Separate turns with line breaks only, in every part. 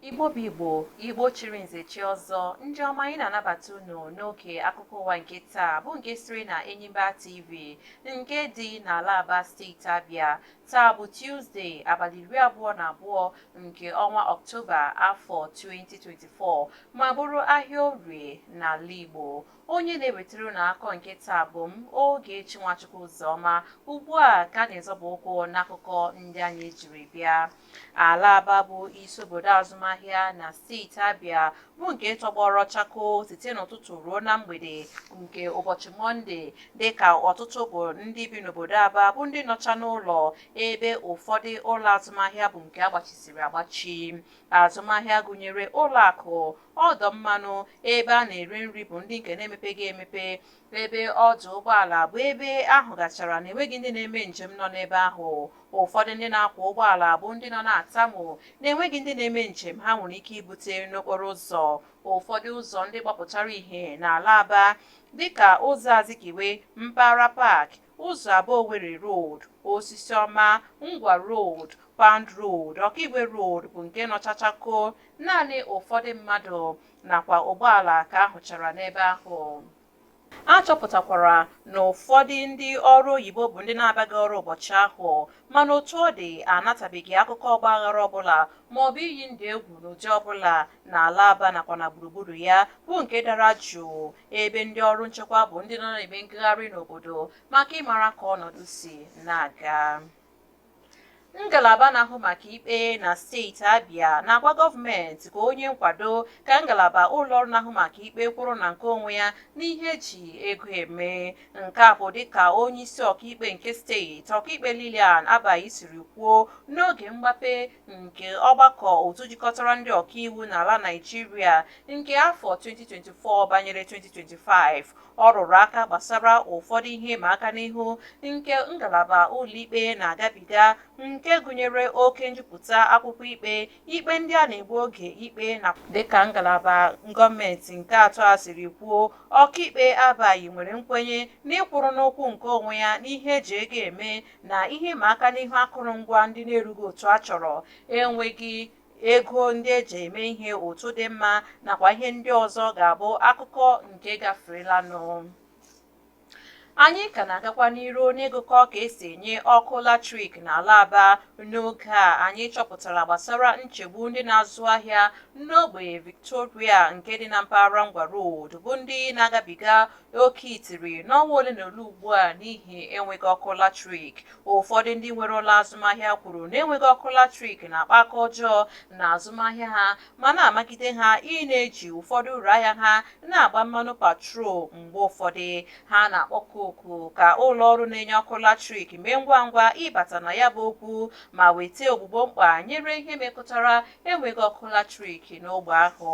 igbo bụ igbo igbo chiri nze chie ọzọ ndị ọma anyị na-anabata unu n'oge akụkọ ụwa nke taa bụ nke siri na enyimba tv nke dị n'ala aba steeti abịa taa bụ tuzdee abalị iri abụọ na abụọ nke ọnwa Ọktoba afọ 2024 ma bụrụ ahịa orie n'ala Igbo. Onye na-ewetara unu akụkọ nke taa bụ m Ogechi Nwachukwu Ụzọma. Ugbu a ka anyị zọba ụkwụ n'akụkọ ndị anyị jiri bịa. Ala Aba bụ isi obodo azụmahịa na steeti Abịa bụ nke tọgbọrọ chakoo site n'ụtụtụ ruo na mgbede nke ụbọchị Mọnde dịka ọtụtụ bụ ndị bi n'obodo Aba bụ ndị nọcha n'ụlọ ebe ụfọdụ ụlọ azụmahịa bụ nke agbachisiri agbachi azụmahịa gụnyere ụlọ akụ ọdọ mmanụ ebe a na-ere nri bụ ndị nke na-emepeghị emepe ebe ọdụ ụgbọala bụ ebe a hụgachara na enweghị ndị na-eme njem nọ n'ebe ahụ ụfọdụ ndị na-akwọ ụgbọala bụ ndị nọ na-atamu na enweghị ndị na-eme njem ha nwere ike ibute n'okporo ụzọ ụfọdụ ụzọ ndị gbapụtara ihe n'ala aba dịka ụzọ azikiwe mpaghara paakị Ụzọ Aba Owerri Road, Osisiọma, Ngwa Road, Pound Road, Ọkaigwe Road bụ nke nọcha chakoo, naanị ụfọdụ mmadụ nakwa ụgbọala ka a hụchara n'ebe ahụ. A chọpụtakwara na ụfọdụ ndị ọrụ oyibo bụ ndị na-abịaghị ọrụ ụbọchị ahụ, mana otu ọ dị, a natabeghị akụkọ ọgbaaghara ọbụla maọbụ iyi ndụ egwu n'ụdị ọbụla n'ala Aba nakwa na gburugburu ya bụ nke dara jụụ ebe ndị ọrụ nchekwa bụ ndị nọ na-eme ngagharị n'obodo maka ịmara ka ọnọdụ si na-aga ngalaba na-ahụ maka ikpe na steeti Abia na-agwa gọọmenti ka o nye nkwado ka ngalaba ụlọọrụ na-ahụ maka ikpe kwụrụ na nke onwe ya n'ihe e ji ego eme nke a bụ dịka onye isi ọkaikpe nke steeti ọkaikpe Lilian Abai siri kwuo n'oge mgbape nke ọgbakọ otu jikọtara ndị ọkaiwu n'ala Naịjirịa nke afọ 2024 banyere 2025. Ọ rụrụ aka gbasara ụfọdụ ihe ịma aka n'ihu nke ngalaba ụlọikpe na-agabiga nke gụnyere oke njupụta akwụkwọ ikpe, ikpe ndị a na-egbu oge ikpe na dịka ngalaba gọọmenti nke atọ a siri kwuo, Ọkaikpe Abai nwere nkwenye n'ịkwụrụ n'ụkwụ nke onwe ya n'ihe e ji ego eme na ihe ịma aka n'ihu akụrụngwa ndị na-erughị otu a chọrọ enweghị ego ndị e ji eme ihe otu dị mma nakwa ihe ndị ọzọ ga-abụ akụkọ nke gaferelanụ anyị ka na-agakwa n'iru n'ịgụkọ ka esi enye ọkụ latrik n'ala aba n'oge a anyị chọpụtara gbasara nchegbu ndị na-azụ ahịa n'ogbe victoria nke dị na mpaghara ngwa road bụ ndị na-agabiga Oke itiri n'ọnwa ole na ole ugbu a n'ihi enweghị ọkụ latrik. Ụfọdụ ndị nwere ụlọ azụmahịa kwuru na enweghị ọkụ latrik na-akpa aka ọjọọ na azụmahịa ha ma na-amagide ha ị na-eji ụfọdụ uru ahịa ha na-agba mmanụ petrol mgbe ụfọdụ. Ha na-akpọku oku ka ụlọ ọrụ na-enye ọkụ latrik mee ngwa ngwa ịbata na ya bụ okwu ma weta ogbugbo mkpa nyere ihe metụtara enweghị ọkụ latrik n'ogbe ahụ.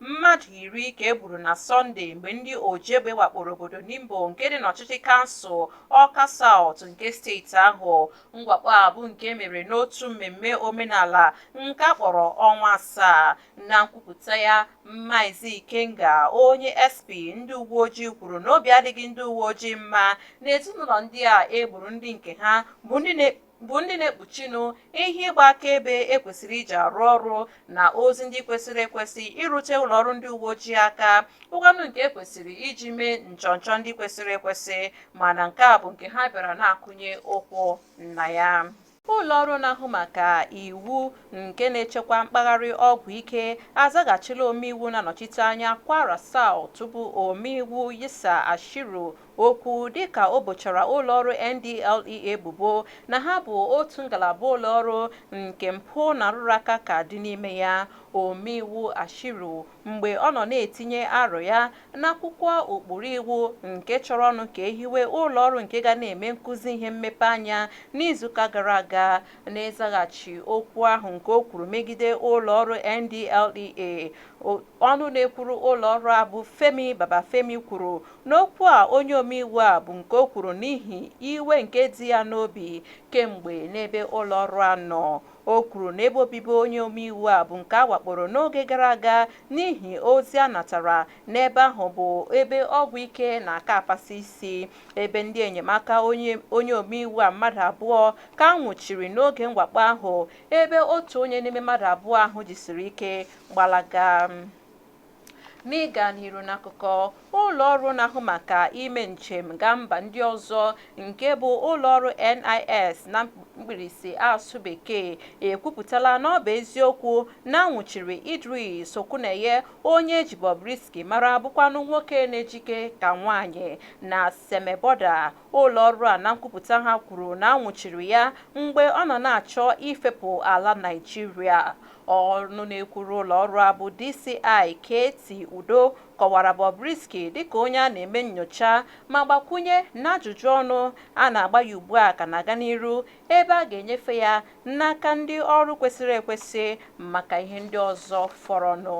Mmadụ iri ka e gburu na Sọnde mgbe ndị ojiegbe wakporo obodo Nimbo nke dị n'ọchịchị kansụl Awka South nke steeti ahụ. Mwakpo a bụ nke mere n'otu mmemme omenala nke a kpọrọ ọnwa asaa. Na nkwupụta ya, Maazị Ikenga, onye SP ndị uweojii kwuru na obi adịghị ndị uweojii mma na ezinụlọ ndị a e gburu ndị nke ha bụ ndị na bụ ndị na-ekpuchinụ ihe ịgba akaebe e kwesịrị iji arụ ọrụ na ozi ndị kwesịrị ekwesị irute ụlọ ọrụ ndị uwe ojii aka bụkwanụ nke ekwesịrị iji mee nchọnchọ ndị kwesịrị ekwesị mana nke a bụ nke ha bịara na-akụnye ụkwụ na ya ụlọ ọrụ na-ahụ maka iwu nke na-echekwa mkpagharị ọgwụ ike azaghachila omeiwu na-anọchite anya kwara South bụ omeiwu yisa ashiru okwu dịka o bochara ụlọọrụ NDLEA ebubo na ha bụ otu ngalaba ụlọọrụ nke mpụ na nrụrụaka ka dị n'ime ya. Omeiwu Ashiru mgbe ọ nọ na-etinye aro ya n'akwụkwọ ụkpụrụ iwu nke chọrọnụ ka e hiwe ụlọọrụ nke ga na-eme nkuzi ihe mmepe anya n'izuụka gara aga n'ịzaghachi okwu ahụ nke o kwuru megide ụlọọrụ NDLEA, ọnụ na-ekwuru ụlọọrụ a bụ Femi Babafemi kwuru N'okwu a onye omeiwu a bụ nke o kwuru n'ihi iwe nke dị ya n'obi kemgbe n'ebe ụlọọrụ a nọ. O kwuru na ebe obibi onye omeiwu a bụ nke a wakporo n'oge gara aga n'ihi ozi a natara na ebe ahụ bụ ebe ọgwụ ike na-aka apasị isi. Ebe ndị enyemaka onye omeiwu a mmadụ abụọ ka a nwụchiri n'oge mwakpo ahụ ebe otu onye n'ime mmadụ abụọ ahụ jisiri ike gbalaga. N'ịga n'iru n'akụkọ, ụlọọrụ na-ahụ maka ime njem gaa mba ndị ọzọ nke bụ ụlọọrụ NIS na mkpirisi asụsụ Bekee ekwupụtala na ọ bụ eziokwu na a nwụchiri Idris Okuneye onye e ji Bobrisky mara bụkwanụ nwoke na-ejike ka nwaanyị na Seme Bọda. Ụlọọrụ a na nkwupụta ha kwuru na a nwụchiri ya mgbe ọ nọ na-achọ ifepụ ala Naịjirịa. Ọnụ na-ekwuru ụlọọrụ a bụ DCI KT Udo kọwara Bobrisky dịka onye a na-eme nnyocha ma gbakwunye na ajụjụ ọnụ a na-agba ya ugbua ka na-aga n'iru ebe a ga-enyefe ya n'aka ndị ọrụ kwesịrị ekwesị maka ihe ndị ọzọ fọrọnụ.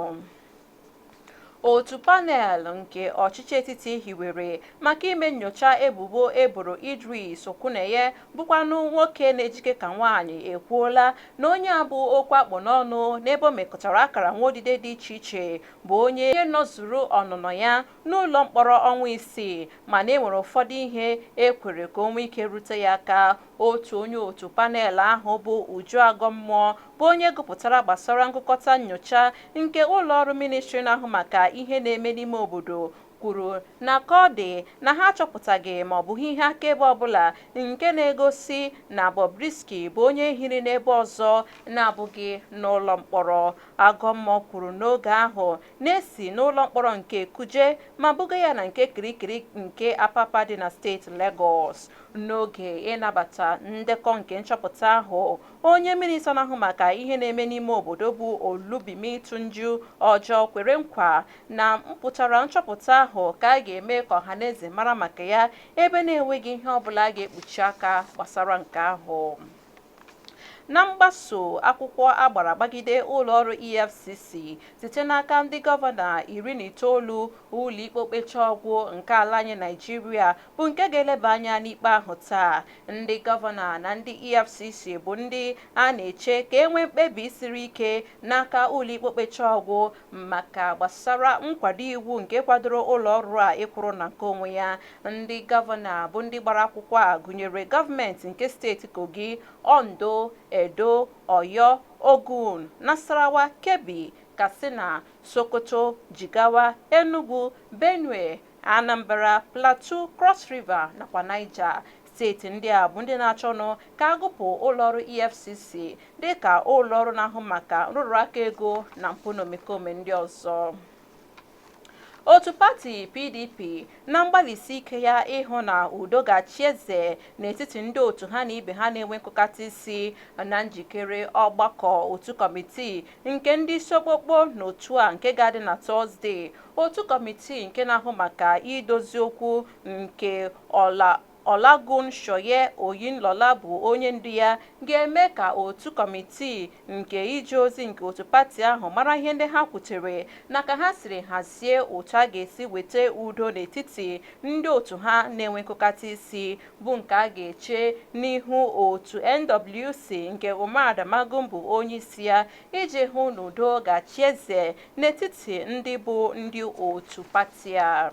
Otu panel nke ọchịchị etiti hiwere maka ime nnyocha ebubo e boro Idris Okuneye bụkwanụ nwoke na-ejike ka nwaanyị ekwuola na onye a bụ okwu a kpụ n'ọnụ n'ebe o mekọtara akara nwaudide dị iche iche bụ onye nọzuru ọnụnọ ya n'ụlọmkpọrọ ọnwa isii mana e nwere ụfọdụ ihe e kwere ka o nwee ike rute ya aka Otu onye otu panel ahụ bụ Uju Agomoh bụ onye gụpụtara gbasara ngụkọta nnyocha nke ụlọọrụ Ministri na-ahụ maka ihe na-eme n'ime obodo kwuru na ka ọ dị na ha achọpụtaghị maọbụ hụ ihe akaebe ọbụla nke na-egosi na Bobrisky bụ onye hiri n'ebe ọzọ na-abụghị n'ụlọ mkpọrọ. Agomoh kwuru n'oge ahụ na e si n'ụlọ mkpọrọ nke Kuje ma buga ya na nke Kirikiri nke Apapa dị na steeti Legọs. N'oge ịnabata ndekọ nke nchọpụta ahụ, onye minista na-ahụ maka ihe na-eme n'ime obodo bụ Olubunmi Tunji-Ojo kwere nkwa na mpụtara nchọpụta ahụ ka a ga-eme ka ọhaneze mara maka ya ebe na-enweghị ihe ọbụla a ga-ekpuchi aka gbasara nke ahụ. Na mgbaso akwụkwọ a gbara gbagide ụlọọrụ EFCC site n'aka ndị gọvanọ iri na itoolu, ụlọikpe okpechaọgwụ nke ala anyị Naịjirịa bụ nke ga-eleba anya n'ikpe ahụ taa. Ndị gọvanọ na ndị EFCC bụ ndị a na-eche ka e nwee mkpebi siri ike n'aka ụlọikpe okpechaọgwụ maka gbasara nkwado iwu nke kwadoro ụlọọrụ a ịkwụrụ na nke onwe ya Ndị gọvanọ bụ ndị gbara akwụkwọ a gụnyere gọọmenti nke steeti Kogi, Ondo, Edo, Oyo, Ogun, Nasarawa, Kebbi, Katsina, Sokoto, Jigawa, Enugu, Benue, Anambra, Plateau, Cross River nakwa Niger. Steeti ndị a bụ ndị na-achọnụ ka a gụpụ ụlọọrụ EFCC dịka ụlọọrụ na-ahụ maka nrụrụaka ego na mpụ na omekome ndị ọzọ. Otu pati PDP na mgbalịsi ike ya ịhụ na udo ga-achị eze n'etiti ndị otu ha na ibe ha na-enwe nkụkata isi na njikere ọgbakọ otu kọmitii nke ndị isi okpokpo n'otu a nke ga-adị na Tọzdee. Otu kọmitii nke na-ahụ maka idozi okwu nke Ola Olagunsoye Oyinlola bụ onye ndu ya, ga-eme ka otu kọmitii nke ije ozi nke otu pati ahụ mara ihe ndị ha kwutere na ka ha siri hazie otu a ga-esi weta udo n'etiti ndị otu ha na-enwe nkụkata isi, bụ nke a ga-eche n'ihu otu NWC nke Umar Damagum bụ onye isi ya, iji hụ na udo ga-achị eze n'etiti ndị bụ ndị otu pati a.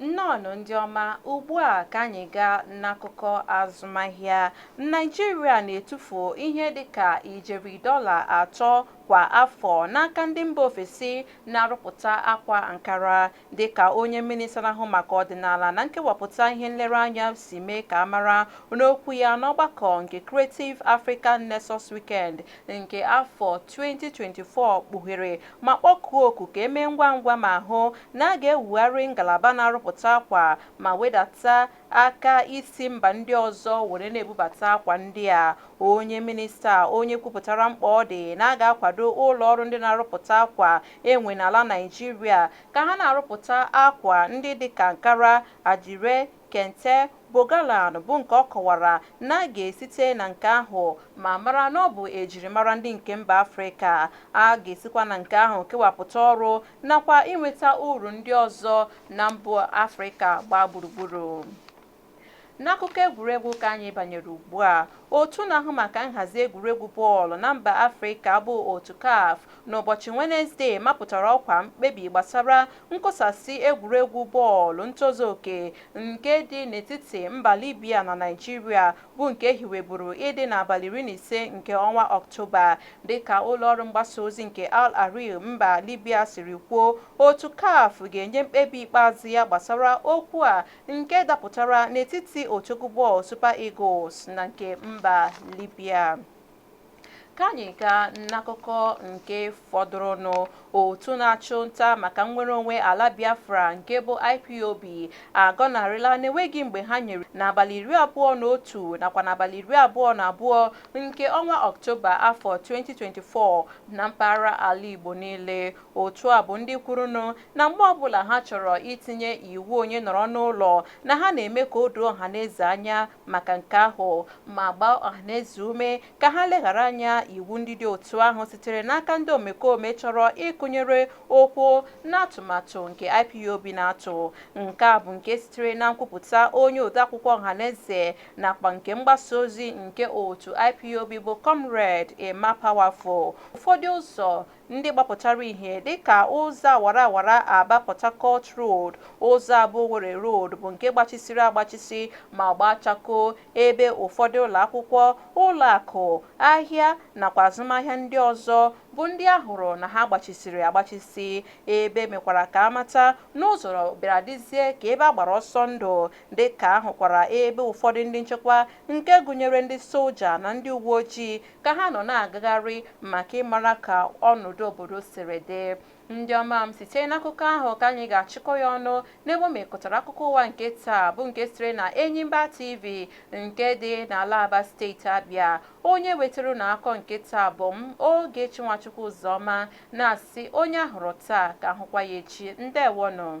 Nnọọnụ ndị ọma, ugbu a ka anyị gaa n'akụkọ azụmahịa. Naịjirịa na-etufu ihe dị ka ijeri dọla atọ kwa afọ n'aka ndị mba ofesi na-arụpụta akwa Ankara, dịka onye Mịnịsta na-ahụ maka ọdịnala na nkewapụta ihe nlereanya si mee ka a mara n'okwu ya n'ọgbakọ nke Creative Africa Nexus Weekend nke afọ 2024 kpughere ma kpọkuo oku ka e mee ngwa ngwa ma hụ na a ga-ewugharị ngalaba na-arụpụta akwa ma wedata aka isi mba ndị ọzọ were na-ebubata akwa ndị a. Onye minista a onye kwupụtara mkpa ọ dị na a ga-akwado ụlọọrụ ndị na-arụpụta akwa e nwe n'ala Naịjirịa ka ha na-arụpụta akwa ndị dịka Ankara, Adire, Kente, Bogalan bụ nke ọ kọwara na a ga-esite na nke ahụ ma mara na ọ bụ ejirimara ndị nke mba Afrịka. A ga-esikwa na nke ahụ kewapụta ọrụ nakwa inweta uru ndị ọzọ na mba Afrịka gbaa gburugburu. N'akụkọ egwuregwu ka anyị banyere ugbua, otu na-ahụ maka nhazi egwuregwu bọọlụ na mba Afrịka bụ otu CAF n'ụbọchị Wenezdee mapụtara ọkwa mkpebi gbasara nkụsasị egwuregwu bọọlụ ntozu oke nke dị n'etiti mba Libya na Naịjirịa bụ nke e hiweburu ịdị n'abalị iri na ise nke ọnwa Ọktoba. Dịka ụlọọrụ mgbasaozi nke Al Ahrar mba Libya siri kwuo, otu CAF ga-enye mkpebi ikpeazụ ya gbasara okwu a nke dapụtara n'etiti otu egwu bọọlụ Super Eagles na nke mba Libya. Ka anyị gaa n'akụkọ nke fọdụrụnụ. Otu na-achụ nta maka nnwere onwe ala Biafra nke bụ IPOB agọnarịla na e nweghị mgbe ha nyere n'abalị iri abụọ na otu nakwa n'abalị iri abụọ na abụọ nke ọnwa Ọktoba afọ 2024 na mpaghara ala Igbo niile. Otu a bụ ndị kwurunụ na mgbe ọbụla ha chọrọ itinye iwu onye nọrọ n'ụlọ na ha na-eme ka o doo ọhaneze anya maka nke ahụ ma gbaa ọhaneze ume ka ha leghara anya iwu ndị dị otu ahụ sitere n'aka ndị omekome chọrọ ịkụnyere okwu n'atụmatụ nke IPOB na-atụ. Nke a bụ nke sitere na nkwupụta onye odeakwụkwọ ọhaneze nakwa nke mgbasa ozi nke otu IPOB bụ Comrade Emma Powerful. Ụfọdụ ụzọ ndị gbapụtara ihe dịka ụzọ awara awara Aba Port Harcourt Road, ụzọ Aba Owerri Road bụ nke gbachisiri agbachisi ma gbaa chakoo ebe ụfọdụ ụlọakwụkwọ, ụlọakụ, ahịa nakwa azụmahịa ndị ọzọ bụ ndị a hụrụ na ha gbachisiri agbachisi. Ebe mekwara ka a mata na ụzọ bịara dịzie ka ebe a gbara ọsọ ndụ dịka a hụkwara ebe ụfọdụ ndị nchekwa nke gụnyere ndị soja na ndị uweojii ka ha nọ na-agagharị maka ịmara ka ọnọdụ obodo siri dị. Ndị ọma m, site n'akụkọ ahụ ka anyị ga-achịkọ ya ọnụ n'ebe o mekọtara akụkọ ụwa nke taa bụ nke siri na Enyimba TV nke dị n'ala Aba steeti Abịa. Onye wetara unu akụkọ nke taa bụ m Ogechi Nwachukwu Ụzọma na-asị onye a hụrụ taa ka a hụkwa ya echi. Ndewonụ.